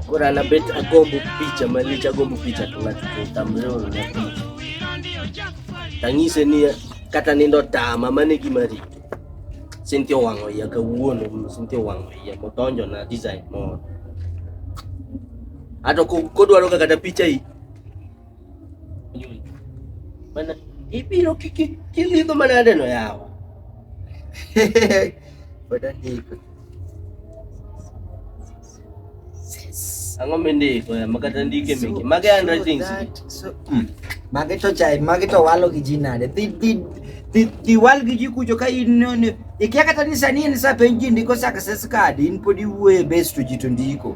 Koro an abet agombo picha malich, agombo picha to ng'ato to tamreo na picha. Tang'ise ni kata nindo tama mane gima rito. Cynthia owang'o iya kawuono, Cynthia owang'o iya kodonjo na design moro. Ato kodwaro kata picha i Mana ibiro kilidho mana aneno yawa. Pod andiko. Ang'o mindiko ya makata ndike meke. Mage handwritings. So, mm. Mage to chai, mage to walo gi ji nade. Dhi dhi dhi dhi wal gi ji kucho ka in ne ikia kata ni sani en sa penji ndiko success card in pod iwuoye best to ji to ndiko.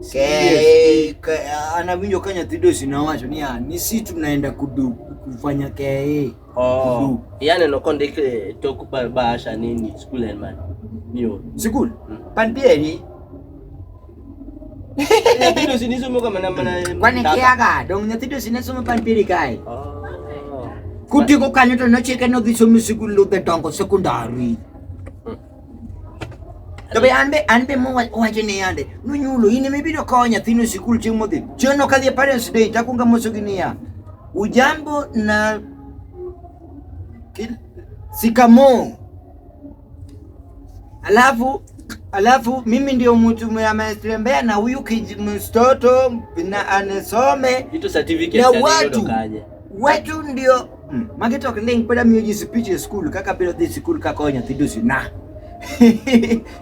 Ke- ke- anawinjo ka nyathi dosi nowacho niya ni si tunaenda kudu kufanya kee Oh. Yaani no kondik eh, tok ba- bahasha nini school and man. Niyo. sikul Mm. pan pieri Nyathi dosi nisomo kama na mana. kwane data. kiaga dong nyathi dosi ne somo pan pieri kae Oh. kutieko kanyo to nochike nodhi somo sikul ludhe dongo sekondari To be an be an be mowacho ni yande nonyulo in ema ibiro kawo nyathino e sikul chieng' modhi. Chieng' no kadhi e parents day takwonga mosogi niya. Ujambo na sikamo. Alafu alafu mimi ndio mtu ametembea na huyu mtoto na anesome na watu watu ndio Hmm. Magi to ok ling' pod amiyo ji speech e skul kaka biro dhi skul kakoyo nyathi dusi na.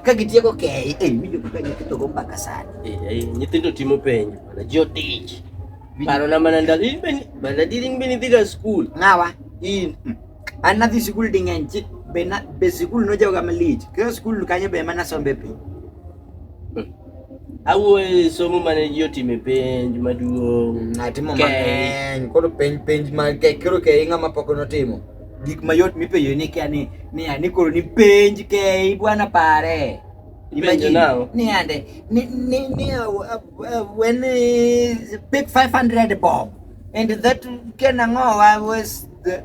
ka gitieko kei eh, winjo kaka nyithindo go mbaka sana eh, eh, nyithindo timo penjo mana ji otich paro na mana ndalo in be mana diri in be nidhiga skul ng'awa in hmm. an nadhi skul ding'eny be skul nojawoga malich kaka skul kanyo be ema nasombe piny Awuoye somo mane ji otime penj maduong'. Atimo Kek. mang'eny. Koro penj penj ma ke- koro ke ng'ama pok notimo. Gik mayot mipenjo ni kia ni ni ani koro ni penj ke bwana pare. Ipenjo nao. Ni ande ni ni ni uh, uh, uh, when uh, pick 500 bob and that can ango I was the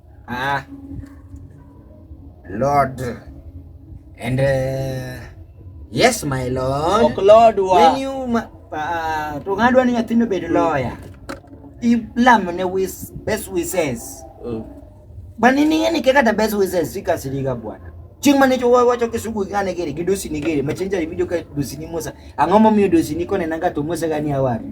Ah, Lord. And uh, yes, my Lord. Ok Lord wa. When you ma, uh, to ngadwa ni nyathino bed lawyer. Ilamo ne wis best wishes. Mm. Bani ni ngani keka ta best wishes sika siliga bwana. Ching mane cho wa wacho kisugu ngane gere gidosi ni gere machenja video ka dosi ni Musa. Angomo mi dosi ni kone nanga to Musa gani awari.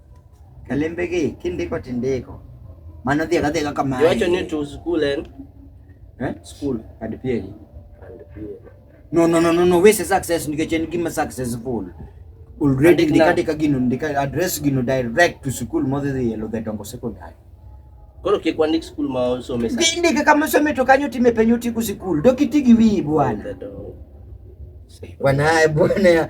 Kalembegi kindiko tindiko. Mano dhiega dhiega kama. Iwacho ni to school en eh? School and PA. And PA. No no no no no wese success nikech en gima successful. Already ndikandika gino ndika address gino direct to school modhi dhi elo the Dongo Secondary. Koro kik wandik school ma osome sa. Ndike kama osome to kanyo time penyo tiku school. Dokitigi wiyi bwana. Bwana bwana